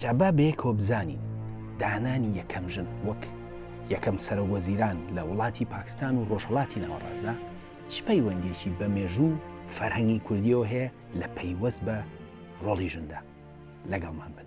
جا با بەیەکەوە بزانین دانانی یەکەم ژن وەک یەکەم سەرۆک وەزیران لە وڵاتی پاکستان و ڕۆژهەڵاتی ناوەڕاستدا چ پەیوەندیەکی بە مێژوو و فەرهەنگی کوردیەوە هەیە لە پەیوەست بە ڕۆڵی ژندا؟ لەگەڵمان بن.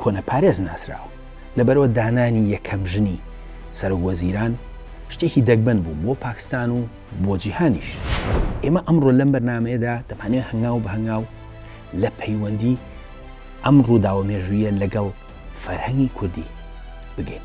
کۆنەپارێز ناسراوە، لەبەرئەوە دانانی یەکەم ژنی سەرۆک وەزیران شتێکی دەگمەن بوو بۆ پاکستان و بۆ جیهانیش. ئێمە ئەمڕۆ لەم بەرنامەیەدا دەمانەوێت هەنگاو بە هەنگاو لە پەیوەندی ئەم ڕووداوە مێژوویە لەگەڵ فەرهەنگی کوردی بگەین.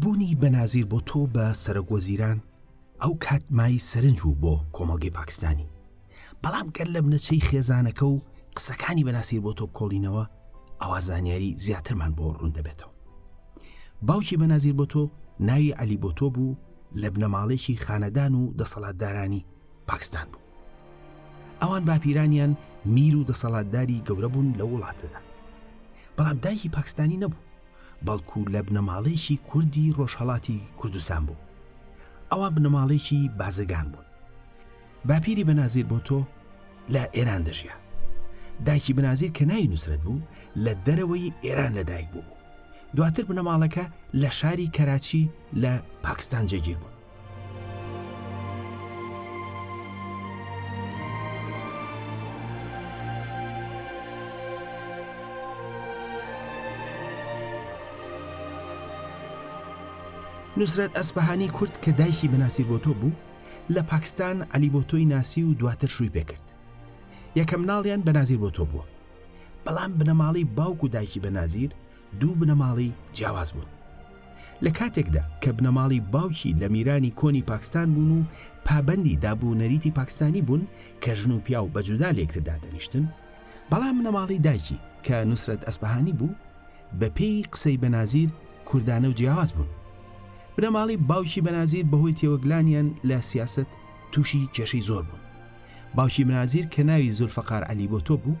بوونی بەنازیر بۆتۆ بە سەرۆک وەزیران ئەو کات مای سەرنج بوو بۆ کۆمەڵگەی پاکستانی بەڵام گەر لە بنەچەی خێزانەکە و قسەکانی بەناسیر بۆ تۆ کۆڵینەوە ئەوە زانیاری زیاترمان بۆ ڕوون دەبێتەوە باوکی بەنازیر بۆ تۆ ناوی علی بۆ تۆ بوو لە بنەماڵێکی خانەدان و دەسەڵاتدارانی پاکستان بوو ئەوان باپیرانیان میر و دەسەڵاتداری گەورە بوون لە وڵاتەدا بەڵام دایکی پاکستانی نەبوو بەڵکو لە بنەماڵەیەکی کوردی ڕۆژهڵاتی کوردستان بوو ئەوان بنەماڵێکی بازرگان بوون باپیری بەنازیر بۆ تۆ لە ئێران دەژیا دایکی بنازیر کە ناوی نووسرەت بوو لە دەرەوەی ئێران لەدایک بوو دواتر بنەماڵەکە لە شاری کەراچی لە پاکستان جێگیر بوو نوسرەت ئەسپەهانی کورد کە دایکی بەناسیر بۆ تۆ بوو لە پاکستان علی بۆ تۆی ناسی و دواتر شووی پێکرد یەکەم ناڵیان بەنازیر بۆ تۆ بووە بەڵام بنەماڵی باوک و دایکی بەنازیر دوو بنەماڵەی جیاواز بوون. لە کاتێکدا کە بنەماڵی باوکی لە میرانی کۆنی پاکستان بوون و پابەندی داب و نەریتی پاکستانی بوون کە ژن و پیاو بە جودا لە یەکتر دادەنیشتن، بەڵام بنەماڵەی دایکی کە نوسرەت ئەسپەهانی بوو، بە پێی قسەی بەنازیر کوردانە و جیاواز بوون. بنەماڵەی باوکی بەنازیر بە هۆی تێوەگلانیان لە سیاسەت تووشی کێشەی زۆر بوون. باوکی بنازیر کە ناوی زولفەقار عەلی بۆتۆ بوو،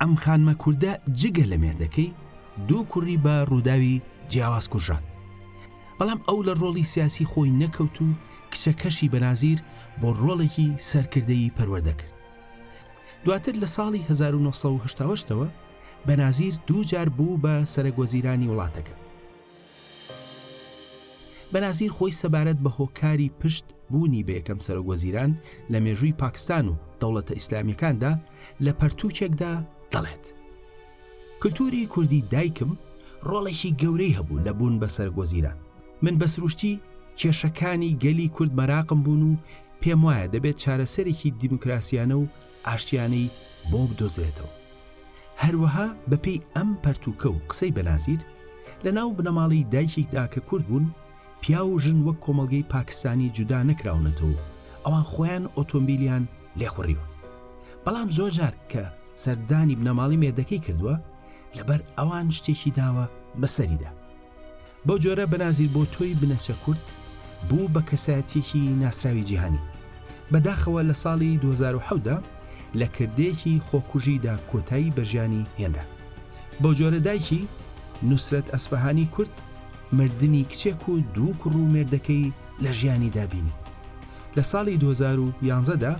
ئەم خانمە کوردە جگە لە مێردەکەی دوو کوڕی بە ڕووداوی جیاواز کوژران بەڵام ئەو لە ڕۆڵی سیاسی خۆی نەکەوت و کچەکەشی بەنازیر بۆ ڕۆڵێکی سەرکردەی پەروەردەکرد دواتر لە ساڵی 1970ەوە بەنازیر دوو جار بوو بە سەرەگۆزیرانی وڵاتەکە بەنازیر خۆی سەبارەت بە هۆکاری پشت بوونی بە یەکەم سەرۆک وەزیران لە مێژووی پاکستان و دەوڵەتە ئیسلامیەکاندا لە پەرتووکێکدا دەڵێت کللتوری کوردی دایکم ڕۆڵێکی گەورەی هەبوو لە بوون بە سەرک وەزیران من بە سروشتی کێشەکانی گەلی کورد مەراقم بوون و پێم وایە دەبێت چارەسەرێکی دیموکراسیانە و ئاشتیانەی بۆ بدۆزرێتەوە. هەروەها بەپێی ئەم پەرتووکە و قسەی بەنازیر، لە ناو بنەماڵەی دایکیکدا کە کورد بوون، پیاو و ژن وەک کۆمەڵگەی پاکستانی جودا نەکراونەتەوە و ئەوان خۆیان ئۆتۆمبیلیان لێ خوڕیوە. بەڵام زۆر جار کە سەردانی بنەماڵەی مێردەکەی کردووە، لەبەر ئەوان شتێکی داوە بەسەریدا. بەو جۆرە بەنازیر بۆتۆی بنەچە کورد بوو بە کەسایەتییەکی ناسراوی جیهانی. بە داخەوە لە ساڵی دوو هەزار و حەوت دا لە کردەیەکی خۆکوژیدا کۆتایی بە ژیانی هێنرا. بەو جۆرە دایکی، نوسرەت ئەسفەهانی کورد، مردنی کچێک و دوو کوڕ و مێردەکەی لە ژیانیدا بینی. لە ساڵی دوو هەزار و یانزە دا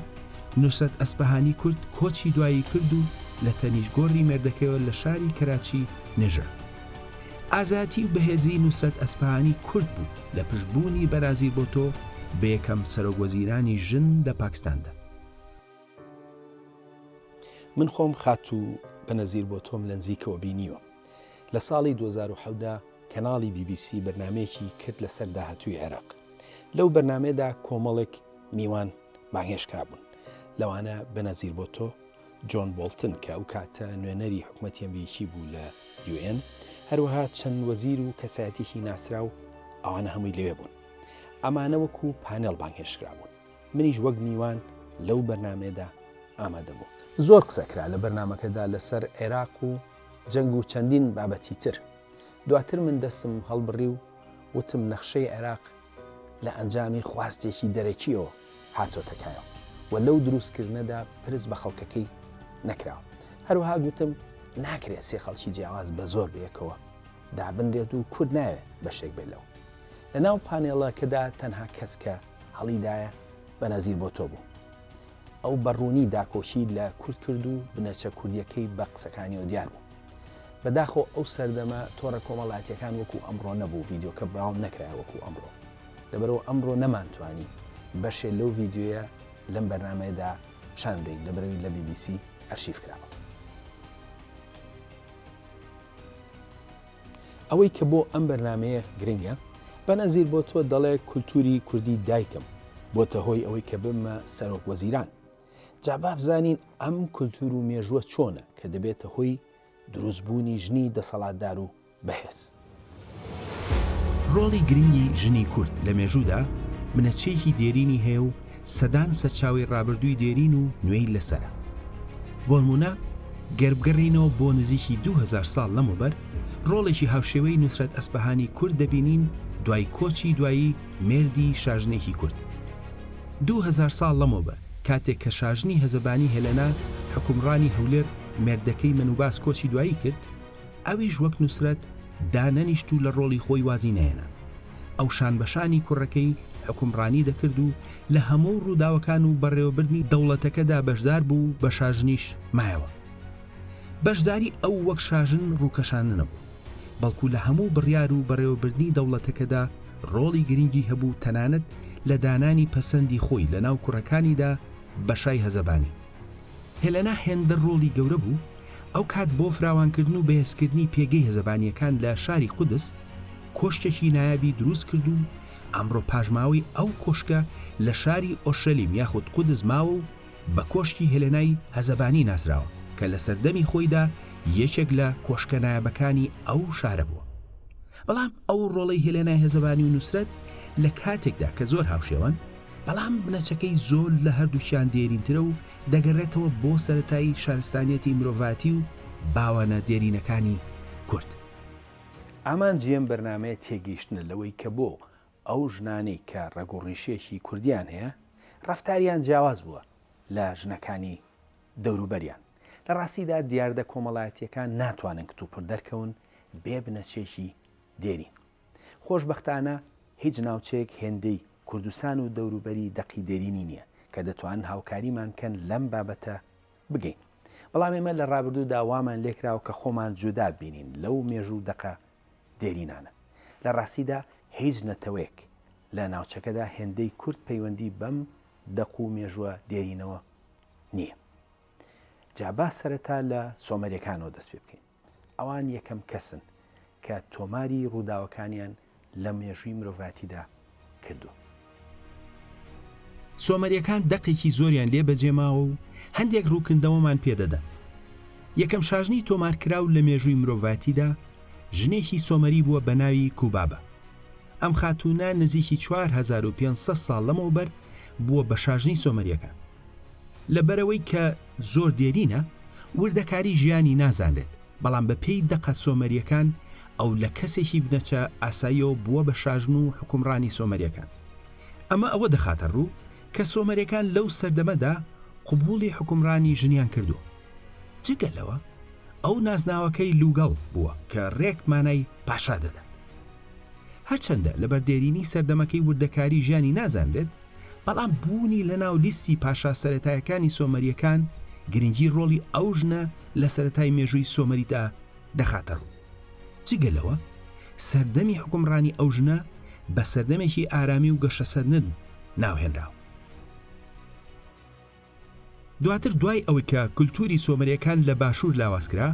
نوسرەت ئەسفەهانی کورد کۆچی دوایی کرد و لە تەنیشت گۆڕی مێردەکەیەوە لە شاری کەراچی نێژرا. ئازاتی و بەهێزی نوسرەت ئەسپەهانی کورد بوو لە پشت بوونی بەرازیر بۆتۆ بە یەکەم سەرۆک وەزیرانی ژن لە پاکستاندا. من خۆم خاتوو بەنەزیر بۆتۆم لە نزیکەوە بینیوە لە ساڵی دوو هەزار و حەوت دا کەناڵی بی بی سی بەرنامەیەکی کرد لەسەر داهاتووی عێراق لەو بەرنامەیەدا کۆمەڵێک میوان بانگهێشت کرابوون لەوانە بەنەزیر بۆتۆ جۆن بۆڵتن کە ئەو کاتە نوێنەری حکومەتی ئەمریکی بوو لە یو ئێن، هەروەها چەند وەزیر و کەسایەتیەکی ناسراو ئەوانە هەمووی لەوێ بوون. ئەمانە وەکو پانێڵ بانگهێشتکرابوون. منیش وەک میوان لەو بەرنامەیەدا ئامادە بووم. زۆر قسە کرا لە بەرنامەکەدا لەسەر عێراق و جەنگ و چەندین بابەتی تر. دواتر من دەستم هەڵبڕی و وتم نەخشەی عێراق لە ئەنجامی خواستێکی دەرەکییەوە هاتۆتە کایەوە و لەو دروستکردنەدا پرس بە خەڵکەکەی نەکراوە. هەروەها گوتم ناکرێت سێ خەڵکی جیاواز بە زۆر بەیەکەوە دابنرێت و کورد نایەوێت بەشێک بێت لەو. لە ناو پانێڵەکەدا تەنها کەس کە هەڵیدایە بەنەزیر بۆتۆ بوو. ئەو بە ڕوونی داکۆکی لە کورد کرد و بنەچە کوردییەکەی بە قسەکانیەوە دیار بوو. بەداخەوە ئەو سەردەمە تۆڕە کۆمەڵاتیەکان وەکو ئەمڕۆ نەبوو ڤیدیۆکە بڵاو نەکرایە وەکو ئەمڕۆ لەبەرەوە ئەمڕۆ نەمانتوانی بەشێ لەو ڤیددیوە لەم بەرنمەیەدا پیشان بین لەبەرەوی لە BBC ئەرشیف کراوە ئەوەی کە بۆ ئەم بەرنمەیە گرنگە بەنەزیر بۆ تۆ دەڵێ کولتوری کوردی دایکم بۆتە هۆی ئەوەی کە بمە سەرۆک وەزیران جا با بزانین ئەم کولتوور و مێژووە چۆنە کە دەبێتە هۆی دروست بوونی ژنی دەسەڵاتدار و بەهێز. ڕۆڵی گرنگی ژنی کورد لە مێژوودا بنەچەیەکی دێرینی هەیە و سەدان سەرچاوەی ڕابردووی دێرین و نوێی لەسەرە. بۆنموونە گەر بگەڕێینەوە بۆ نزیکی دوو هەزار ساڵ لەمەوبەر، ڕۆڵێکی هاوشێوەی نوسرەت ئەسپەهانی کورد دەبینین دوای کۆچی دوایی مێردی شاژنێکی کورد. دوو هەزار ساڵ لەمەوبەر، کاتێک کە شاژنی هەزەبانی هێلەنا حوکمڕانی هەولێر مێردەکەی مەنوباس کۆچی دوایی کرد، ئەویش وەک نوسرەت دانەنیشت و لە ڕۆڵی خۆی وازی نەهێنا. ئەو شانبەشانی کوڕەکەی حوکمڕانی دەکرد و لە هەموو ڕووداوەکان و بەڕێوەبردنی دەوڵەتەکەدا بەشدار بوو و بە شاژنیش مایەوە. بەشداری ئەو وەک شاژن ڕووکەشانە نەبوو. بەڵکو لە هەموو بڕیار و بەڕێوەبردنی دەوڵەتەکەدا ڕۆڵی گرنگی هەبوو تەنانەت لە دانانی پەسەندی خۆی لە ناو کوڕەکانیدا بە شای هەزەبانی. هێلەنا هێندە ڕۆڵی گەورە بوو ئەو کات بۆ فراوانکردن و بەهێزکردنی پێگەی هەزەبانییەکان لە شاری قودس کۆشکێکی نایابی دروست کرد و ئەمڕۆ پاشماوەی ئەو کۆشکە لە شاری ئۆرشەلیم یاخود قودس ماوە و بە کۆشکی هێلێنای هەزەبانی ناسراوە کە لە سەردەمی خۆیدا یەکێک لە کۆشکە نایابەکانی ئەو شارە بووە. بەڵام ئەو ڕۆڵەی هێلێنای هەزەبانی و نوسرەت لە کاتێکدا کە زۆر هاوشێوەن، بەڵام بنەچەکەی زۆر لە هەردووکیان دێرینترە و دەگەڕێتەوە بۆ سەرەتای شارستانیەتی مرۆڤایەتی و باوانە دێرینەکانی کورد. ئامانجی ئەم بەرنامەیە تێگەیشتنە لەوەی کە بۆ ئەو ژنانەی کە ڕەگ و ڕیشێکی کوردییان هەیە، ڕەفتاریان جیاواز بووە لە ژنەکانی دەوروبەریان. لە ڕاستیدا دیاردە کۆمەڵایەتییەکان ناتوانن کتوپڕ دەرکەون بێ بنەچەیەکی دێرین. خۆشبەختانە هیچ ناوچەیەک هێندەی کوردستان و دەوروبەری دەقی دێرینی نییە کە دەتوانن هاوکاریمان بکەن لەم بابەتە بگەین. بەڵام ئێمە لە ڕابردوودا وامان لێکراوە کە خۆمان جودا ببینین لەو مێژوو و دەقە دێرینانە. لە ڕاستیدا هیچ نەتەوەیەک لە ناوچەکەدا هێندەی کورد پەیوەندی بەم دەق و مێژوە دێرینەوە نییە. جا با سەرەتا لە سۆمەریەکانەوە دەست پێ بکەین. ئەوان یەکەم کەسن کە تۆماری ڕووداوەکانیان لە مێژووی مرۆڤاتیدا کردووە. سۆمەریەکان دەقێکی زۆریان لێ بەجێ ماوە و هەندێک ڕووکردنەوەمان پێ دەدەن. یەکەم شاژنی تۆمارکراو لە مێژووی مرۆڤایەتیدا ژنێکی سۆمەری بووە بە ناوی کوبابە. ئەم خاتوونە نزیکی چوار هەزار و پێنج سەد ساڵ لەمەوبەر بووە بە شاژنی سۆمەریەکان. لەبەرئەوەی کە زۆر دێرینە، وردەکاری ژیانی نازانرێت. بەڵام بە پێی دەقە سۆمەریەکان ئەو لە کەسێکی بنەچە ئاساییەوە بووە بە شاژن و حوکمڕانی سۆمەریەکان. ئەمە ئەوە دەخاتە ڕوو کە سۆمەرەکان لەو سەردەمەدا قبوڵی حوکمڕانی ژنیان کردووە. جگە لەوە ئەو نازناوەکەی لوگەڵ بووە کە ڕێک مانای پاشا دەدات. هەرچەندە لەبەر دێرینی سەردەمەکەی وردەکاری ژیانی نازانرێت، بەڵام بوونی لە ناو لیستی پاشا سەرەتایەکانی سۆمەریەکان گرنگی ڕۆڵی ئەو ژنە لە سەرەتای مێژووی سۆمەریدا دەخاتە ڕوو جگە لەوە سەردەمی حکومڕانی ئەو ژنە بە سەردەمێکی ئارامی و گەشەسەندن ناوهێنراوە دواتر دوای ئەوەی کە کولتووری سۆمەرییەکان لە باشوور لاواز کرا،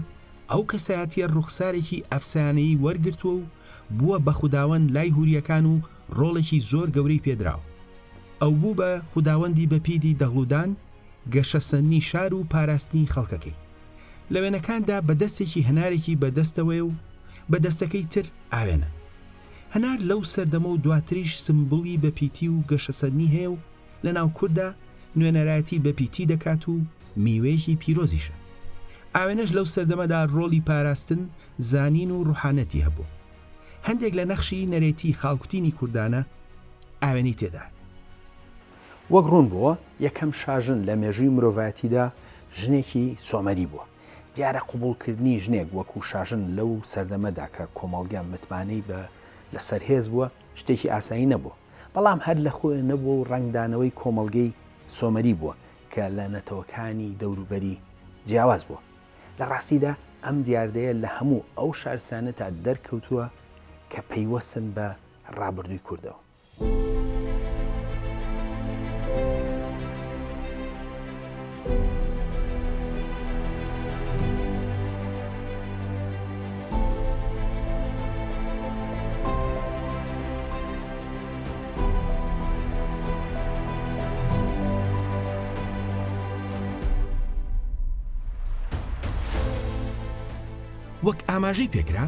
ئەو کەسایەتییە ڕوخسارێکی ئەفسانەیی وەرگرتووە و بووە بە خوداوەند لای هورییەکان و ڕۆڵێکی زۆر گەورەی پێ دراوە. ئەو بوو بە خوداوەندی بەپیتی دەغڵودان، گەشەسەندنی شار و پاراستنی خەڵکەکەی. لە وێنەکاندا بە دەستێکی هەنارێکی بە دەستەوەیە و بە دەستەکەی تر ئاوێنە. هەنار لەو سەردەمە و دواتریش سمبوڵی بەپیتی و گەشەسەندنی هەیە و، لە ناو کورددا نوێنەرایەتی بە پیتی دەکات و میوەیەکی پیرۆزیشە. ئاوێنەش لەو سەردەمەدا ڕۆڵی پاراستن، زانین و ڕوحانەتی هەبووە. هەندێک لە نەخشی نەرێتی خاڵکوتینی کوردانە ئاوێنەی تێدایە. وەک ڕوون بووە، یەکەم شاژن لە مێژووی مرۆڤایەتیدا ژنێکی سۆمەری بووە. دیارە قبووڵکردنی ژنێک وەکوو شاژن لەو سەردەمەدا کە کۆمەڵگە متمانەی بە لەسەر هێز بووە، شتێکی ئاسایی نەبووە، بەڵام هەر لە خۆێ نەبووە و ڕەنگدانەوەی کۆمەڵگەی سۆمەری بووە کە لە نەتەوەکانی دەوروبەری جیاواز بووە. لە ڕاستیدا ئەم دیاردەیە لە هەموو ئەو شارستانیەتا دەرکەوتووە کە پەیوەستن بە ڕابردووی کوردەوە. وەک ئاماژەی پێکرا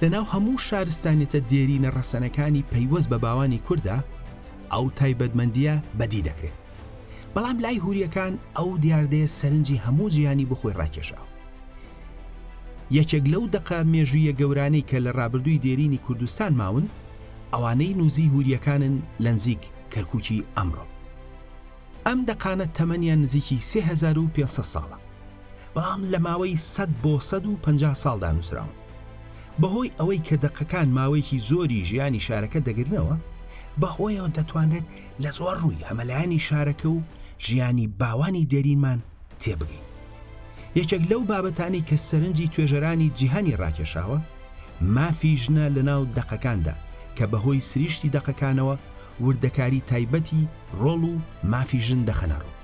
لەناو هەموو شارستانێتە دێرینە ڕەسەنەکانی پەیوەست بە باوانی کووردا ئەو تایبەتمەندیە بەدی دەکرێت بەڵام لای هوریەکان ئەو دیاردەیە سەرنجی هەموو جیانی بۆ خۆی ڕاکێشاوە یەکێک لەو دەقە مێژوویە گەورانەی کە لە ڕابردووی دێرینی کوردستان ماون ئەوانەی نووزی هوریەکانن لە نزیک کەرکووکی ئەمڕۆ ئەم دەقانە تەمەنیان نزیکی 3500 ساڵە بەڵام لە ماوەی 100 بۆ 150 ساڵدا نووسراون بەهۆی ئەوەی کە دەقەکان ماوەیەکی زۆری ژیانی شارەکە دەگرنەوە بەهۆیەوە دەتوانرێت لە زۆر ڕووی هەمەلایەنی شارەکە و ژیانی باوانی دێرینمان تێبگەین یەکێک لەو بابەتانی کە سەرنجی توێژەرانی جیهانی ڕاکێشاوە مافی ژنە لە ناو دەقەکاندا کە بەهۆی سریشتی دەقەکانەوە وردەکاری تایبەتی ڕۆڵ و مافی ژن دەخەنەڕوو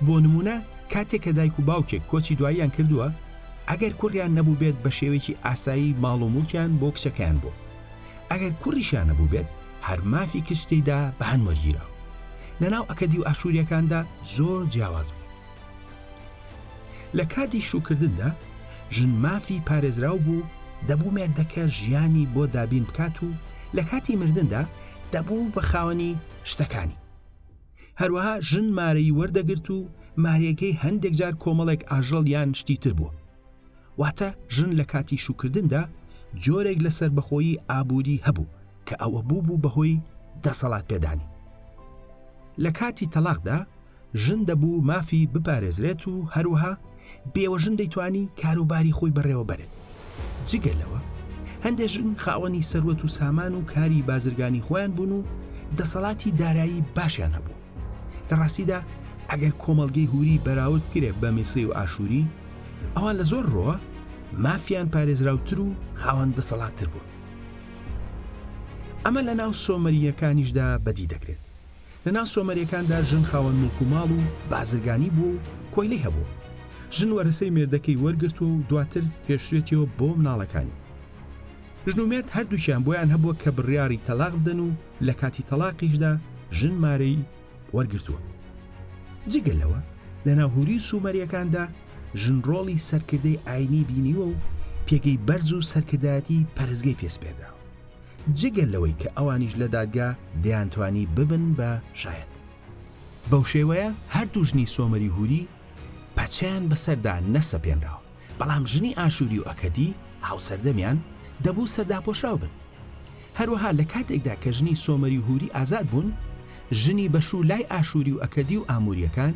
بۆ نمونە کاتێک کە دایک و باوکێک کۆچی دواییان کردووە ئەگەر کوڕیان نەبوو بێت بە شێوەیەکی ئاسایی ماڵ و موڵکیان بۆ کچەکەیان بۆ ئەگەر کوڕیشیان نەبووبێت هەر مافی کچ تێیدا بە هەند وەرگیرا و لەناو ئەکەدی و ئاشوورییەکاندا زۆر جیاواز بوو لە کاتی شووکردندا ژن مافی پارێزراو بوو دەبوو مێردەکە ژیانی بۆ دابین بکات و لە کاتی مردندا دەبوو بە خاوەنی شتەکانی هەروەها ژن مارەی وەردەگرت و مارەکەی هەندێک جار کۆمەڵێک ئاژەڵ یان شتی تر بووە واتە ژن لە کاتی شوکردندا جۆرێک لە سەربەخۆیی ئابووری هەبوو کە ئەوە بوو بوو بەهۆی دەسەڵات پێدانی لە کاتی تەلاقدا ژن دەبوو مافی بپارێزرێت و هەروەها بێوەژن دەیتوانی کاروباری خۆی بەڕێوەبەرێت جگە لەوە هەندێک ژن خاوەنی سەروەت و سامان و کاری بازرگانی خۆیان بوون و دەسەڵاتی دارایی باشیان هەبوو لە ڕاستیدا ئەگەر کۆمەڵگەی هوری بەراورد کرێ بە میسری و ئاشووری ئەوان لە زۆر ڕۆوە مافیان پارێزراوتر و خاوەن دەسەڵاتتر بوون ئەمە لە ناو سۆمەریەکانیشدا بەدی دەکرێت لە ناو سۆمەریەکاندا ژن خاوەن ملک و ماڵ و بازرگانی بوو و کۆیلەی هەبوو ژن وەرەسەی مێردەکەی وەرگرتووە و دواتر پێشوێتیەوە بۆ مناڵەکانی ژن و مێرد هەردووکیان بۆیان هەبووە کە بڕیاڕی تەلاق بدەن و لە کاتی تەڵاقیشدا ژن مارەی وەرگرتووە. جگە لەوە لە ناو هوری سوومەریەکاندا ژن ڕۆڵی سەرکردەی ئاینی بینیوە و پێگەی بەرز و سەرکردایەتی پەرستگەی پێ سپێردراوە. جگە لەوەی کە ئەوانیش لە دادگا دەیانتوانی ببن بە شایەت. بەو شێوەیە هەردوو ژنی سۆمەری هوری پەچەیان بەسەردا نەسەپێنراوە. بەڵام ژنی ئاشووری و ئەکەدی هاوسەردەمیان دەبوو سەرداپۆشراو بن. هەروەها لە کاتێکدا کە ژنی سۆمەری و هووری ئازاد بوون، ژنی بەشوو لای ئاشووری و ئەکەدی و ئاموورییەکان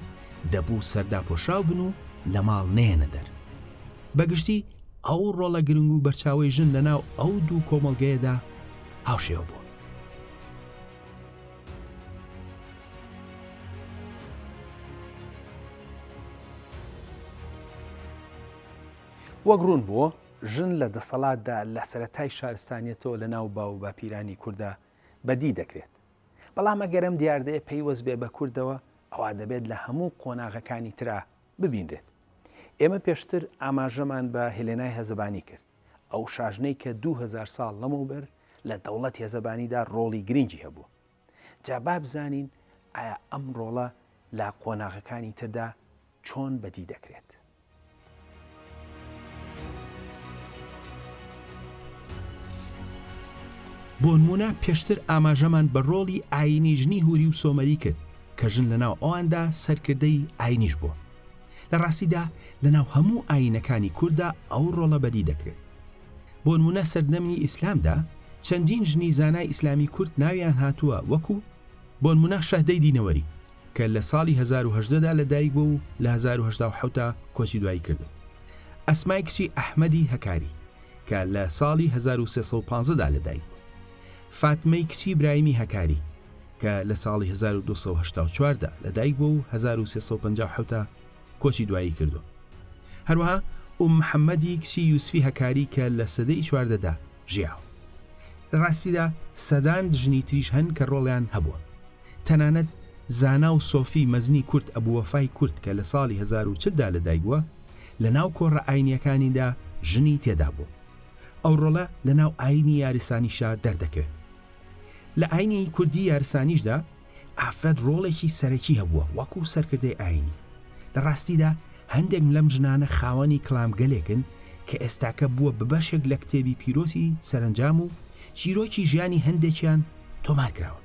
دەبوو سەرداپۆشراو بن و لە ماڵ نەیەنە دەر. بە گشتی ئەو ڕۆڵە گرنگ و بەرچاوەی ژن لەناو ئەو دوو کۆمەڵگەیەدا هاوشێوە بووە. وەک ڕوون بووە ژن لە دەسەڵاتدا لە سەرەتای شارستانیەتەوە لە ناو باو و باپیرانی کووردا بەدی دەکرێت بەڵام ئەگەرم دیاردەیە پەیوەست بێ بە کوردەوە ئەوا دەبێت لە هەموو قۆناغەکانی ترا ببینرێت ئێمە پێشتر ئاماژەمان بە هێلێنای هەزەبانی کرد ئەو شاژنەی کە دوو هەزار ساڵ لەمەوبەر لە دەوڵەت هێزەبانیدا ڕۆڵی گرنگی هەبووە. جا با بزانین ئایا ئەم ڕۆڵە لە قۆناغەکانی تردا چۆن بەدی دەکرێت. بۆنموونە پێشتر ئاماژەمان بە ڕۆڵی ئایینی ژنی هوری و سۆمەری کرد کە ژن لەناو ئەواندا سەرکردەی ئاینیش بووە. لە ڕاستیدا لە ناو هەموو ئایینەکانی کورددا ئەو ڕۆڵە بەدی دەکرێت. بۆنموونە سەردەمنی ئیسلامدا چەندین ژنی زانای ئیسلامی کورد ناویان هاتووە وەکو، بۆنموونە شەهدەی دینەوەری کە لە ساڵی هەزار و هەژدە دا لە دایک بووە و لە هەزار و هەشتا و حەوت کۆچی دوایی کردووە، ئەسمای کچی ئەحمەدی هەکاری کە لە ساڵی هەزار و سێ سەد و پازدە دا لە دایک بووە. فاتمەی کچی برایمی هەکاری، کە لە ساڵی هەزار و دوو سەد و هەشتا و چوار دا لە دایک بووە و هەزار و سێ سەد و پەنجا و حەوت کۆچی دوایی کردووە. هەروەها ئوم محەمەدی کچی یوسفی هەکاری کە لە سەدەی چواردە دا ژیاوە. لە ڕاستیدا سەدان ژنی تریش هەن کە ڕۆڵیان هەبووە. تەنانەت زانا و سۆفی مەزنی کورد ئەبو وەفای کورد کە لە ساڵی هەزار و چل دا لە دایک بووە، لە ناو کۆڕە ئاینییەکانیدا ژنی تێدا بووە. ئەو ڕۆڵە لە ناو ئاینی یارسانیشا دەردەکەوێت لە ئاینی کوردی یارسانیشدا ئافرەت ڕۆڵێکی سەرەکی هەبووە وەکو سەرکردەی ئاینی لە ڕاستیدا هەندێک لەم ژنانە خاوەنی کلامگەلێکن کە ئێستاکە بووە بە بەشێک لە کتێبی پیرۆزی سەرنجام و چیرۆکی ژیانی هەندێکیان تۆمار کراون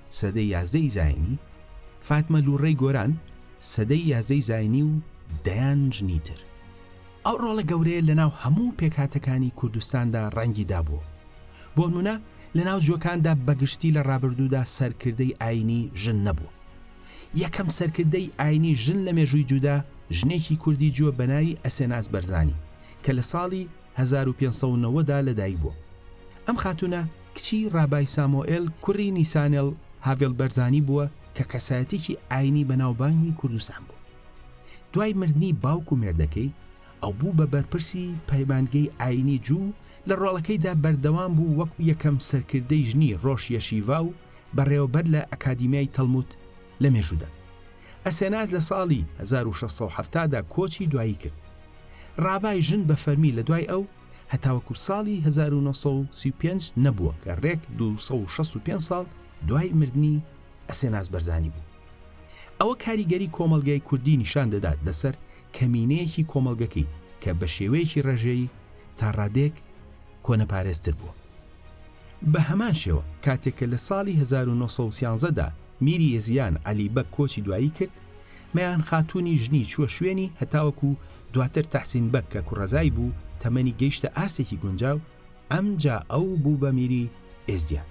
سەدەی یازدە ی زاینی، فاتمە لوڕەی گۆران، سەدەی یازدە ی زاینی و دەیان ژنی تر. ئەو ڕۆڵە گەورەیە لەناو هەموو پێکهاتەکانی کوردستاندا ڕەنگی دابووە. بۆنموونە لەناو جووەکاندا بەگشتی لە ڕابردوودا سەرکردەی ئایینی ژن نەبووە. یەکەم سەرکردەی ئایینی ژن لە مێژووی جوودا ژنێکی کوردی جووە بەناوی ئەسێناس بەرزانی کە لە ساڵی هەزار و پێنج سەد و نەوەد دا لەدایک بووە. ئەم خاتوونە کچی ڕابای سامۆئێل کوڕی نیسانێڵ هاڤێڵ بەرزانی بووە کە کەسایەتیەکی ئاینی بەناوبانگی کوردستان بووە. دوای مردنی باوک و مێردەکەی، ئەو بوو بە بەرپرسی پەیمانگەی ئاینی جو و لە ڕۆڵەکەیدا بەردەوام بوو وەکو یەکەم سەرکردەی ژنی ڕۆش یەشیڤا و بەڕێوەبەر لە ئەکادیمیای تەڵموت، لە مێژوودا. ئەسێناس لە ساڵی هەزار و شەش سەد و حەفتا دا کۆچی دوایی کرد. ڕابای ژن بە فەرمی لە دوای ئەو هەتاوەکو ساڵی هەزار و نۆ سەد و سی و پێنج نەبووە کە ڕێک دوو سەد و شەست و پێنج ساڵ دوای مردنی ئەسێناس بەرزانی بوو. ئەوە کاریگەری کۆمەڵگای کوردی نیشان دەدات لەسەر کەمینەیەکی کۆمەڵگەکەی کە بە شێوەیەکی ڕێژەیی تا ڕادەیەک کۆنەپارێزتر بووە. بە هەمان شێوە کاتێک کە لە ساڵی هەزار و نۆ سەد و سیانزە دا، میری یەزیان عەلی بەگ کۆچی دوایی کرد، مەیان خاتوونی ژنی چووە شوێنی، هەتاوەکو دواتر تەحسین بەگ کە کوڕەزای بوو، تەمەنی گەیشتە ئاستێکی گونجاو، ئەمجا ئەو بوو بە میری ئێزدیان.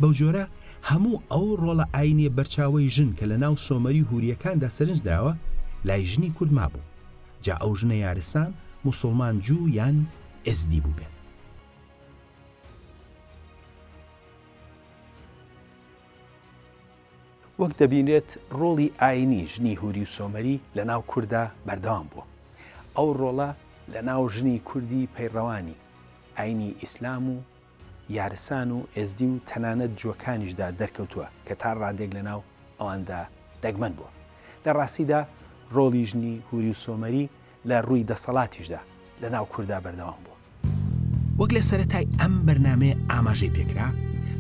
بەوجۆرە هەموو ئەو ڕۆڵە ئایینیە بەرچاوەی ژن کە لەناو سۆمەری و هورییەکاندا سەرنج دراوە، لای ژنی کورد مابوو، جا ئەو ژنە یارسان، موسوڵمان، جوو یان ئێزدی بووبێت. وەک دەبینرێت ڕۆڵی ئاینی ژنی هوری و سۆمەری لە ناو کوردا بەردەوام بووە. ئەو ڕۆڵە لە ناو ژنی کوردی پەیڕەوانی ئاینی ئیسلام و یارسان و ئێزدی و تەنانەت جووەکانیشدا دەرکەوتووە کە تا ڕادێک لە ناو ئەواندا دەگمەن بووە. لە ڕاستیدا ڕۆڵی ژنی هوری و سۆمەری لە ڕووی دەسەڵاتیشدا لە ناو کوردا بەردەوام بووە. وەک لە سەرەتای ئەم بەرنامەیە ئاماژەی پێکرا،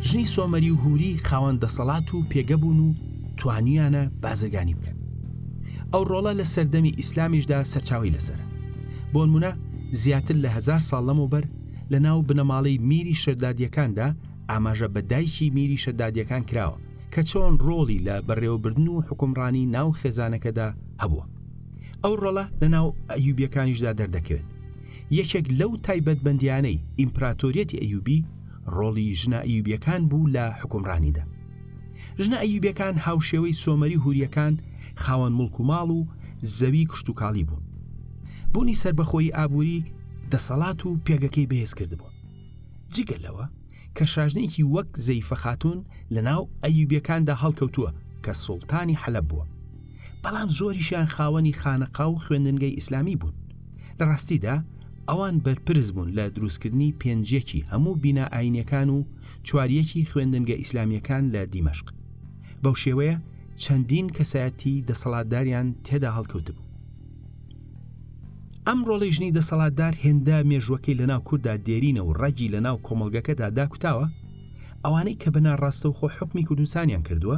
ژنی سۆمەری و هوری خاوەن دەسەڵات و پێگە بوون و توانیویانە بازرگانی بکەن. ئەو ڕۆڵە لە سەردەمی ئیسلامیشدا سەرچاوەی لەسەرە. بۆنمونە زیاتر لە هەزار ساڵ لەمەوبەر لە ناو بنەماڵەی میری شەدادیەکاندا ئاماژە بە دایکی میری شەدادیەکان کراوە کە چۆن ڕۆڵی لە بەڕێوەبردن و حوکمڕانی ناو خێزانەکەدا هەبووە. ئەو ڕۆڵە لە ناو ئەیوبیەکانیشدا دەردەکەوێت یەکێک لەو تایبەتبندیانەی ئیمپراتۆریەتی ئەیوبی ڕۆڵی ژنە ئەیوبیەکان بوو لە حکومڕانیدا ژنە ئەیوبیەکان هاوشێوەی سۆمەری هوریەکان خاوەن مڵک و ماڵ و زەوی کشتتوکاڵی بوون بوونی سربەخۆی ئابووری دەسەڵات و پێگەکەی بەهێز کردبوو جگە لەوە کە شاژنێکی وەک زەیفە خاتون لە ناو ئەیوبیەکاندا هەڵکەوتووە کە سوڵتانی حەلب بووە بەڵام زۆریشیان خاوەنی خانەقا و خوێندنگەی ئیسلامی بوون لە ڕاستیدا ئەوان بەرپرس بوون لە دروستکردنی پێنجەکی هەموو بینا ئاینەکان و چواریەکی خوێندنگە ئیسلامیەکان لە دیمەشق بەو شێوەیە چەندین کەسایەتی دەسەڵاتداریان تێدا هەڵکەوتبوو ئەم ڕۆڵی ژنی دەسەڵاتدار هێندە مێژوەکەی لەناو کووردا دێرینە و ڕەگی لەناو کۆمەلگەکەدا داکوتاوە ئەوانەی کە بەناڕاستەوخۆ حکمی کوردستانیان کردووە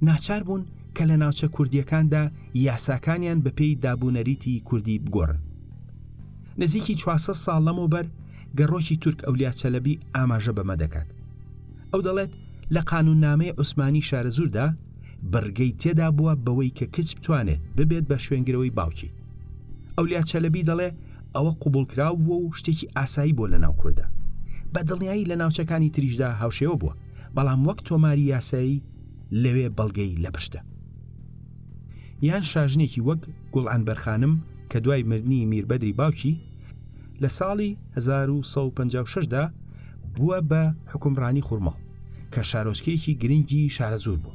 ناچار بوون کە لە ناوچە کوردییەکاندا یاساکانیان بەپێی دابونەریتی کوردی بگۆڕن. نزیکی چوار سەد ساڵ لەمەوبەر گەڕۆکی تورک ئەولیا چەلەبی ئاماژە بەمە دەکات. ئەو دەڵێت لە قانوننامەی عوسمانی شارەزووردا بڕگەی تێدا بووە بەوەی کە کچ بتوانێت ببێت بە شوێنگرەوەی باوکی. ئەولیا چەلەبی دەڵێ ئەوە قوبوڵکراو بووە و شتێکی ئاسایی بووە لە ناو کوردە. بە دڵنیایی لە ناوچەکانی تریشدا هاوشێوە بووە، بەڵام وەک تۆماری یاسایی، لەوێ بەڵگەی لە پشتە. یان شاژنێکی وەک گوڵعنبەر خانم کە دوای مردنی میربەدری باوکی لە ساڵی 1956 دا بووە بە حوکمڕانی خورماڵ کە شارۆچکەیەکی گرنگی شارەزوور بوو.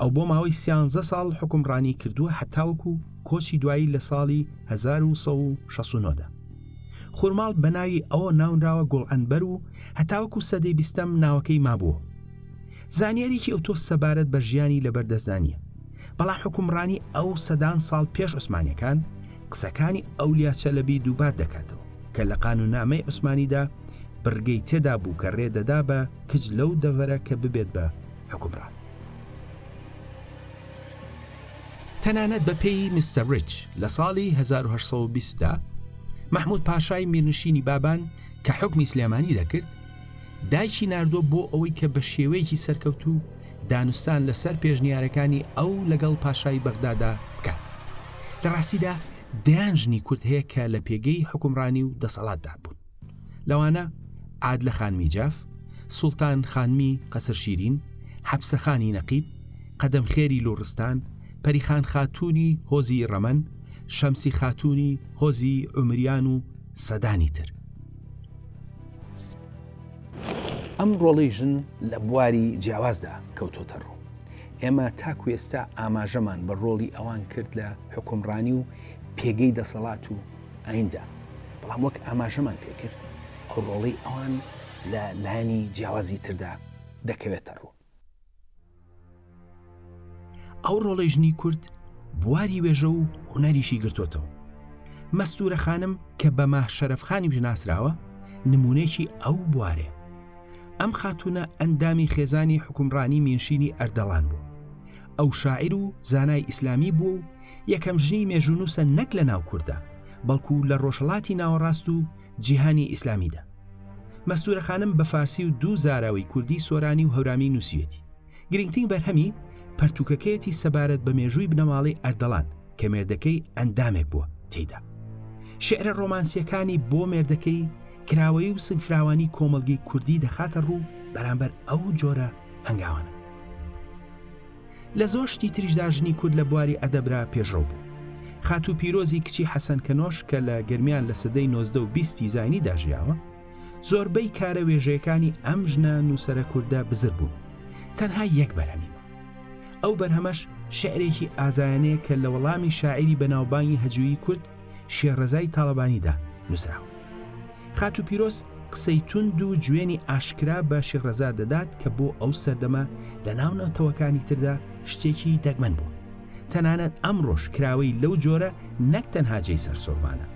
ئەو بۆ ماوەی سیانزە ساڵ حوکمڕانی کردووە هەتاوەکو کۆچی دوایی لە ساڵی 1969 دا. خورماڵ بە ناوی ئەو ناونراوە گوڵعنبەر و هەتاوەکو سەدەی بیستەم ناوەکەی مابووە. زانیاریی ئەوتۆ سەبارەت بە ژیانی لەبەر دەستدا نییە، بەڵام حوکمڕانی ئەو سەدان ساڵ پێش عوسمانیەکان قسەکانی ئەولیا چەلەبی دووبات دەکاتەوە کە لە قانوونامەی عوسمانیدا بڕگەی تێدا بوو کە رێ دەدا بە کچ لەو دەڤەرە کە ببێت بە حوکمڕان. تەنانەت بە پێی میستەر ریچ لە ساڵی 1820 دا مەحموود پاشای میرنشینی بابان کە حوکمی سلێمانی دەکرد دایکی ناردووە بۆ ئەوەی کە بە شێوەیەکی سەرکەوتوو دانوستان لەسەر پێشنیارەکانی ئەو لەگەڵ پاشای بەغدادا بکات. لە ڕاستیدا دەیان ژنی کورد هەیە کە لە پێگەی حوکمڕانی و دەسەڵاتدا بوون. لەوانە عادلە خانمی جاف، سوڵتان خانمی قەسر شیرین، حەپسە خانی نەقیب، قەدەم خێری لوڕستان، پەریخان خاتوونی هۆزی ڕەمەن، شەمسی خاتوونی هۆزی ئومریان و سەدانی تر. ئەم ڕۆڵی ژن لە بواری جیاوازدا کەوتۆتە ڕوو ئێمە تاکو ئێستا ئاماژەمان بە ڕۆڵی ئەوان کرد لە حکومڕانی و پێگەی دەسەڵات و ئایندا بەڵام وەک ئاماژەمان پێکرد ئەو ڕۆڵی ئەوان لە لایەنی جیاوازی تردا دەکەوێتە ڕوو ئەو ڕۆڵەی ژنی کورد بواری وێژە و هونەریشی گرتۆتەوە مەستورە خانم کە بە ماه شەرەف خانیمش ناسراوە نمونەیەکی ئەو بوارێ ئەم خاتونە ئەندامی خێزانی حکومڕانی مینشینی ئەردەڵان بوو ئەو شاعیر و زانای ئیسلامی بوو و یەکەم ژنی مێژونوسە نەک لە ناو کوردە بەڵکو لە ڕۆژهڵاتی ناوەڕاست و جیهانی ئیسلامیدا. مەستوورە خانم بە فارسی و دوو زاراوەی کوردی سۆرانی و هەورامی نووسیوێتی. گرینگترین بەرهەمی، پەرتووکەکەیەتی سەبارەت بە مێژووی بنەماڵەی ئەردەڵان کە مێردەکەی ئەندامێک بووە تێیدا. شیعرە ڕۆمانسییەکانی بۆ مێردەکەی، کراوەیی و سنگفراوانی کۆمەڵگەی کوردی دەخاتە ڕوو بەرامبەر ئەو جۆرە هەنگاوانە. لە زۆر شتی تریشدا ژنی کورد لە بواری ئەدەبرا پێشڕەو بوو. خاتوو پیرۆزی کچی حەسەن کەنۆش کە لە گەرمیان لە سەدەی نۆزدە و بیستی زاینیدا ژیاوە، زۆربەی کارە وێژەیەکانی ئەم ژنە نووسەرە کوردە بزر بوون. تەنها یەک بەرهەمی ماوە. ئەو بەرهەمەش شیعرێکی ئازایانەیە کە لە وەڵامی شاعیری بەناوبانگی هەجویی کورد، شێرەزای تاڵەبانیدا نووسراوە. خاتوو پیرۆز قسەی توند و جوێنی ئاشکرا بە شێخ رەزا دەدات کە بۆ ئەو سەردەمە لە ناو نەتەوەکانی تردا شتێکی دەگمەن بووە. تەنانەت ئەمڕۆش کراوەی لەو جۆرە نەک تەنها جێی سەرسوڕمانە،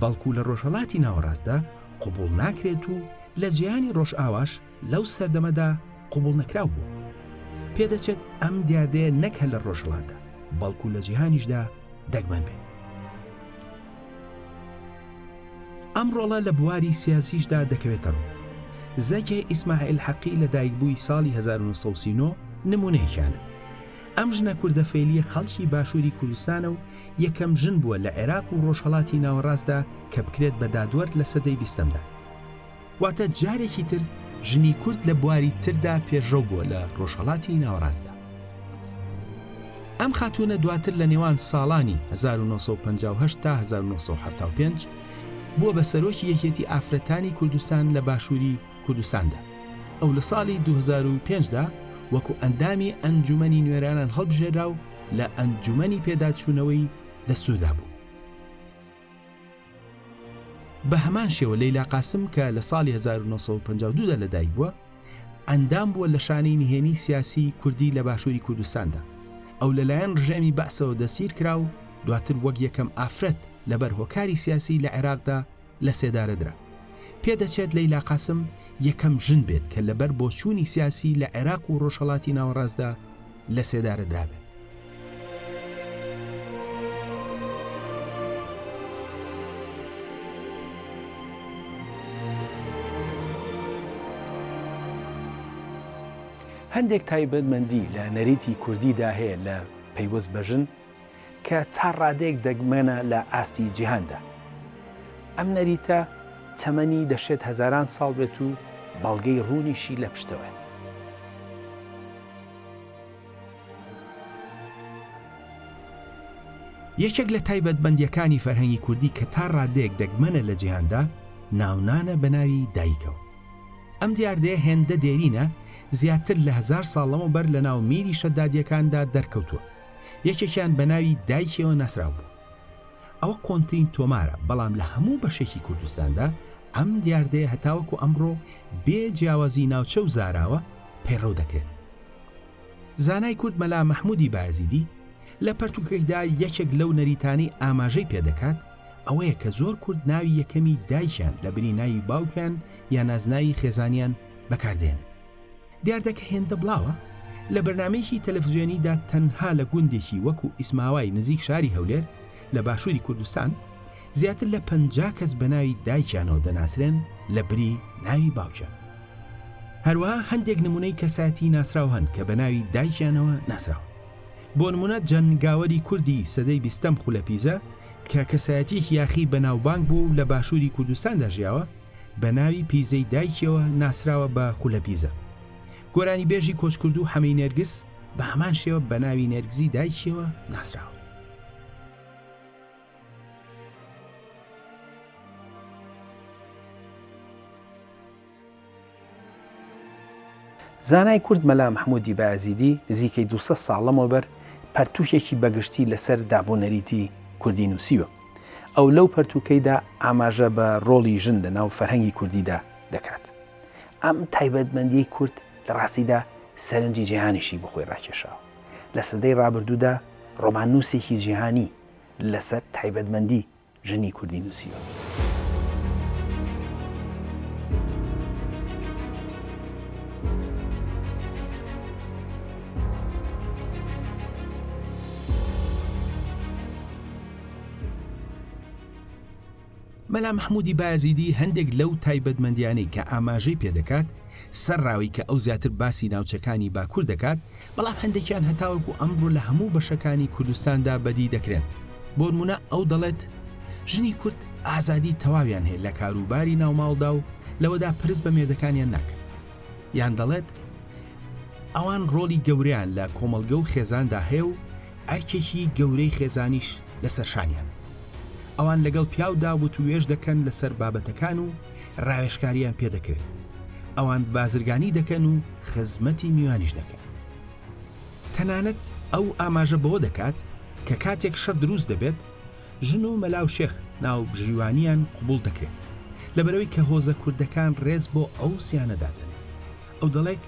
بەڵکو لە رۆژهەڵاتی ناوەڕاستدا قبوڵ ناکرێت و لە جیهانی رۆژئاواش، لەو سەردەمەدا قبوڵنەکراو بوو. پێدەچێت ئەم دیاردەیە نەک هەر لە ڕۆژهڵاتدا بەڵکو لە جیهانیشدا دەگمەن بێت. ئەم ڕۆڵە لە بواری سیاسیشدا دەکەوێتە ڕوو. زەکێ ئیسماعیل حەقی لە دایکبووی ساڵی 1939 نمونەیەکیانە. ئەم ژنە کوردە فەیلیە خەڵکی باشووری کوردستانە و یەکەم ژن بووە لە عێراق و ڕۆژهەڵاتی ناوەڕاستدا کە بکرێت بە دادوەر لە سەدەی بیستەمدا. واتە جارێکی تر ژنی کورد لە بواری تردا پێشڕەو بووە لە ڕۆژهەڵاتی ناوەڕاستدا ئەم خاتوونە دواتر لە نێوان ساڵانی 1950 تا 1970 بووە بە سەرۆکی یەکێتی ئافرەتانی کوردستان لە باشووری کوردستاندا ئەو لە ساڵی 2005دا وەکو ئەندامی ئەنجومنی نوێرانان هەڵبژێرا و لە ئەنجومنی پێداچوونەوەی دەسودا بوو بە هەمان شێوە لەیلا قاسم کە لە ساڵی 1952 دا لەدایک بووە ئەندام بووە لە شانەی نهێنی سیاسی کوردی لە باشووری کوردستاندا ئەو لەلایەن ڕژێمی بەعسەوە دەسیر کرا و دواتر وەک یەکەم ئافرەت لەبەر هۆکاری سیاسی لە عێراقدا لە سێدارەدرا پێدەچێت لەیلا قاسم یەکەم ژن بێت کە لەبەر بۆچوونی سیاسی لە عێراق و ڕۆژهڵاتی ناوەڕاستدا لەسێدارەدرابێت. هەندێک تایبەتمەندی لە نەریتی کوردیدا هەیە لە پەیوەست بە ژن، کە تا ڕادەیەک دەگمەنە لە ئاستی جیهاندا. ئەم نەریتە تەمەنی دەشێت هەزاران ساڵ بێت و بەڵگەی ڕوونیشی لە پشتەوەیە. یەکێک لە تایبەتمەندییەکانی فەرهەنگی کوردی کە تا ڕادەیەک دەگمەنە لە جیهاندا، ناونانە بە ناوی دایکەوە. ئەم دیاردەیە هێندە دێرینە، زیاتر لە هەزار ساڵ لەمەوبەر لەناو میری شەدادییەکاندا دەرکەوتووە. یەکێکیان بە ناوی دایکیەوە ناسراو بوو ئەوە کۆنترین تۆمارە بەڵام لە هەموو بەشێکی کوردستاندا ئەم دیاردەیە هەتاوەکو ئەمڕۆ بێ جیاوازی ناوچە و زاراوە پەیڕەو دەکرێت زانای کورد مەلا مەحمودی بازیدی لە پەرتوکەیدا یەکێک لەو نەریتانەی ئاماژەی پێدەکات ئەوەیە کە زۆر کورد ناوی یەکەمی دایکیان لە بری ناوی باوکیان یا نازناوی خێزانیان بەکاردێنن دیاردە کە هێندە بڵاوە، لە بەرنامەیەکی تەلەفزیۆنیدا تەنها لە گوندێکی وەکو ئیسماوای نزیک شاری هەولێر لە باشووری کوردستان، زیاتر لە پەنجا کەس بە ناوی دایکیانەوە دەناسرێن لە بری ناوی باوکیان. هەروەها هەندێک نمونەی کەسایەتی ناسراو هەن کە بە ناوی دایکیانەوە ناسراون. بۆ نمونە جەنگاوەری کوردی سەدەی بیستەم خولەپیزە کە کەسایەتیەکی یاخی بەناوبانگ بووە و لە باشووری کوردستاندا ژیاوە، بە ناوی پیزەی دایکیەوە ناسراوە بە خولە پیزە. گۆرانیبێژی کۆچکردوو حەمەی نێرگز بە هەمان شێوە بە ناوی نێرگزی دایکیەوە ناسراوە. زانای کورد مەلا مەحموودی بایەزیدی نزیکەی دوو سەد ساڵ لەمەوبەر پەرتووکێکی بەگشتی لەسەر دابونەریتی کوردی نووسیوە. ئەو لەو پەرتووکەیدا ئاماژە بە ڕۆڵی ژن لە ناو فەرهەنگی کوردیدا دەکات. ئەم تایبەتمەندیەی کورد لە ڕاستیدا سەرنجی جیهانیشی بۆ خۆی ڕاکێشاوە. لە سەدەی ڕابردوودا ڕۆماننووسێکی جیهانی لەسەر تایبەتمەندی ژنی کوردی نووسیوە. مەلا محمودی بایەزیدی هەندێک لەو تایبەتمەندیانەی کە ئاماژەی پێدەکات سەر ڕاوی کە ئەو زیاتر باسی ناوچەکانی باکوور دەکات بەڵام هەندێکیان هەتاوەکو ئەمڕۆ لە هەموو بەشەکانی کوردستاندا بەدی دەکرێن بۆنمونە ئەو دەڵێت ژنی کورد ئازادی تەواویان هەیە لە کاروباری ناوماڵدا و لەوەدا پرس بە مێردەکانیان ناکەن یان دەڵێت ئەوان ڕۆڵی گەوریان لە کۆمەڵگە و خێزاندا هەیە و ئەرکێکی گەورەی خێزانیش لەسەرشانیان ئەوان لەگەڵ پیاودا وتوێش دەکەن لەسەر بابەتەکان و ڕاوێشکاریان پێدەکرێت ئەوان بازرگانی دەکەن و خزمەتی میوانیش دەکەن تەنانەت ئەو ئاماژە بەوە دەکات کە کاتێک شەر دروست دەبێت ژن و مەلا و شێخ ناو بژیوانیان قوبول دەکرێت لەبەرەوەی کە هۆزە کوردەکان ڕێز بۆ ئەو سیانەدادن ئەو دەڵێک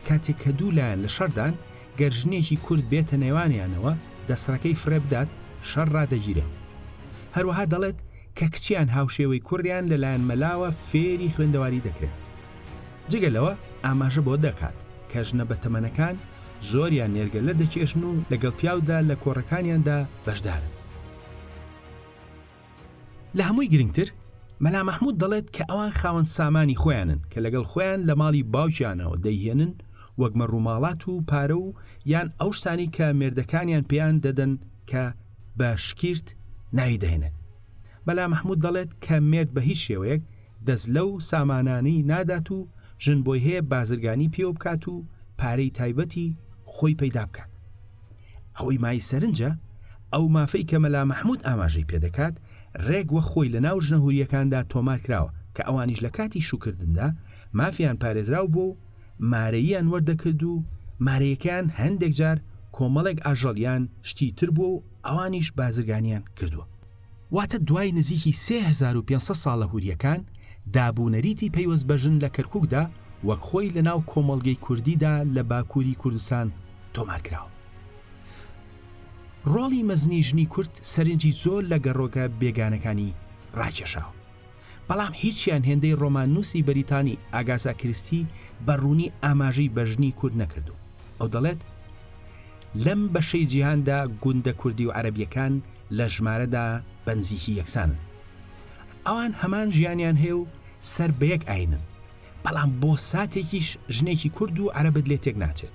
کاتێک کە دوو لایەن لە شەردان گەر ژنێکی کورد بێتە نێوانیانەوە دەسڕەکەی فرێ بدات شەر ڕدەگیرێت هەروەها دەڵێت کە کچیان هاوشێوەی کوڕیان لەلایەن مەلاوە فێری خوێندەواری دەکرێن جگە لەوە ئاماژە بۆ دەکات کە ژنە بە تەمەنەکان زۆریان نێرگەلە دەکێشن و لەگەڵ پیاودا لە کۆڕەکانیاندا بەشدارن لە هەمووی گرنگتر مەلا مەحمود دەڵێت کە ئەوان خاوەن سامانی خۆیانن کە لەگەڵ خۆیان لە ماڵی باوکیانەوە دەیهێنن وەگمە ڕووماڵات و پارە و یان ئەو شتانی کە مێردەکانیان پێیان دەدەن کە بە شکیرت ناوی دەهێنێت. مەلا مەحمود دەڵێت کە مێرد بە هیچ شێوەیەک دەست لەو سامانانەی نادات و ژن بۆی هەیە بازرگانی پێوە بکات و پارەی تایبەتی خۆی پەیدا بکات. ئەوەی مای سەرنجە ئەو مافەی کە مەلا مەحمود ئاماژەی پێدەکات رێک وەک خۆی لەناو ژنە هورییەکاندا تۆمار کراوە کە ئەوانیش لە کاتی شووکردندا مافیان پارێزراو بووە و مارەییان وەردەکرد و مارەیەکەیان هەندێک جار کۆمەڵێک ئاژەڵیان شتی تر بووە و ئەوانیش بازرگانیان کردووە. واتە دوای نزیکی سێ هەزار و پێنج سەد ساڵ لە هورییەکان، داب و نەریتی پەیوەست بە ژن لە کەرکووکدا وەک خۆی لە ناو کۆمەڵگەی کوردیدا لە باکووری کوردستان تۆمار کراوە. ڕۆڵی مەزنی ژنی کورد سەرنجی زۆر لە گەڕۆکە بێگانەکانی ڕاکێشاوە. بەڵام هیچیان هێندەی ڕۆماننووسی بەریتانی ئاگاسا کریستی بە ڕوونی ئاماژەی بە ژنی کورد نەکردووە. ئەو دەڵێت، لەم بەشەی جیهاندا گوندە کوردی و عەرەبییەکان لە ژمارەدا بەنزیکی یەکسانن. ئەوان هەمان ژیانیان هەیە و سەر بە یەک ئایینن. بەڵام بۆ ساتێکیش ژنێکی کورد و عەرەبت لێ تێک ناچێت.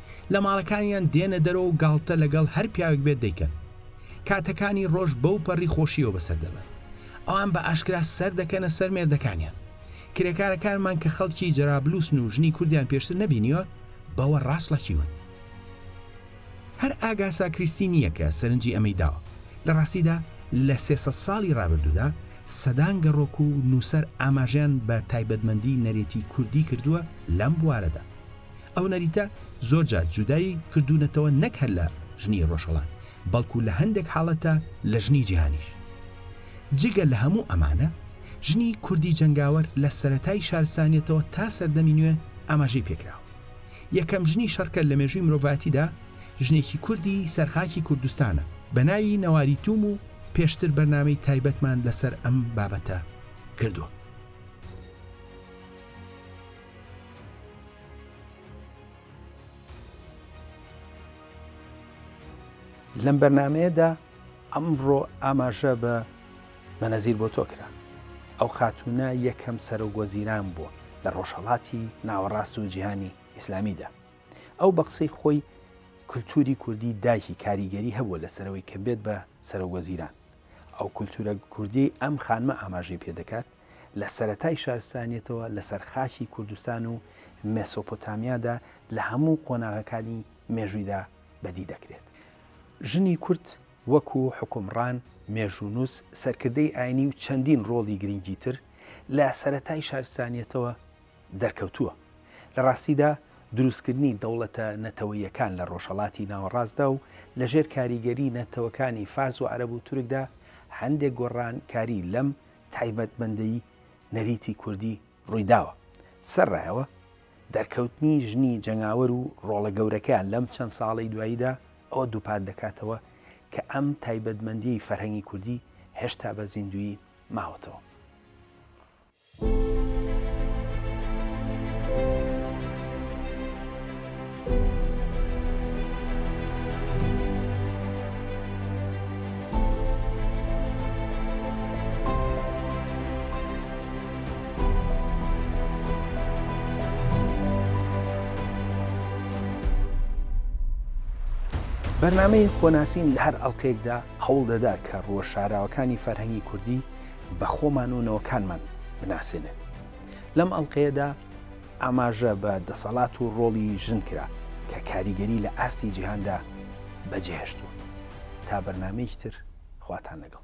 لە ماڵەکانیان دێنە دەرەوە و گاڵتە لەگەڵ هەر پیاوێک بێت دەیکەن. کاتەکانی ڕۆژ بەو پەڕی خۆشیەوە بەسەر دەبەن. ئەوان بە ئاشکرا سەر دەکەنە سەر مێردەکانیان. کرێکارەکانمان کە خەڵکی جەرابلوسن و ژنی کوردیان پێشتر نەبینیوە، بەوە ڕاسڵەکیون. هەر ئاگاسا کریستی نییە کە سەرنجی ئەمەی داوە. لە ڕاستیدا لە سێ سەد ساڵی ڕابردوودا سەدان گەڕۆک و نووسەر ئاماژەیان بە تایبەتمەندی نەرێتی کوردی کردووە لەم بوارەدا. ئەو نەریتە زۆر جار جودای کردوونەتەوە نەک هەر لە ژنی ڕۆژهەڵات بەڵکو لە هەندێک حاڵەتدا لە ژنی جیهانیش. جگە لە هەموو ئەمانە ژنی کوردی جەنگاوەر لە سەرەتای شارستانیەتەوە تا سەردەمی نوێ ئاماژەی پێکراوە. یەکەم ژنی شەڕکەر لە مێژووی مرۆڤایەتیدا ژنێکی کوردی سەرخاکی کوردستانە بە ناوی نەواری تووم و پێشتر بەرنامەی تایبەتمان لەسەر ئەم بابەتە کردووە. لەم بەرنمەیەدا ئەمڕۆ ئاماژە بە بەنەزیر بۆ تۆکرا ئەو خاتونە یەکەم سەرۆک وەزیران بووە لە ڕۆژهڵاتی ناوەڕاست و جیهانی ئیسلامیدا ئەو بە قسەی خۆی کولتوری کوردی دایکی کاریگەری هەبووە لەسەرەوەی کە بێت بە سەرۆک وەزیران ئەو کولتورە کوردی ئەم خانمە ئاماژەی پێ دەکات لە سەرەتای شارستانیەتەوە لەسەر خاکی کوردستان و مێسۆپۆتامیادا لە هەموو قۆناغەکانی مێژوویدا بەدی دەکرێت. ژنی کورد وەکو حوکمڕان، مێژوونووس، سەرکردەی ئاینی و چەندین ڕۆڵی گرنگی تر لە سەرەتای شارستانیەتەوە دەرکەوتووە. لە ڕاستیدا دروستکردنی دەوڵەتە نەتەوەییەکان لە ڕۆژهەڵاتی ناوەڕاستدا و لە ژێر کاریگەری نەتەوەکانی فارس و عەرەب و تورکدا هەندێک گۆڕانکاری لەم تایبەتمەندیی نەریتی کوردی ڕووی داوە. سەرەڕایەوە دەرکەوتنی ژنی جەنگاوەر و ڕۆڵە گەورەکەیان لەم چەند ساڵەی دواییدا ئەوە دووپات دەکاتەوە کە ئەم تایبەتمەندییەی فەرهەنگی کوردی هێشتا بە زیندوویی ماوەتەوە. بەرنامەی خۆناسین لە هەر ئەڵلقەیەکدا هەوڵ دەدا کە ڕووە شاراوەکانی فەرهەنگی کوردی بە خۆمان و نەوەکانمان بناسێنێت لەم ئەڵلقەیەدا ئاماژە بە دەسەڵات و ڕۆڵی ژن کرا کە کاریگەری لە ئاستی جیهاندا بەجێهشتووە. تا بەرنامەیەکی تر خواتان لەگەڵ.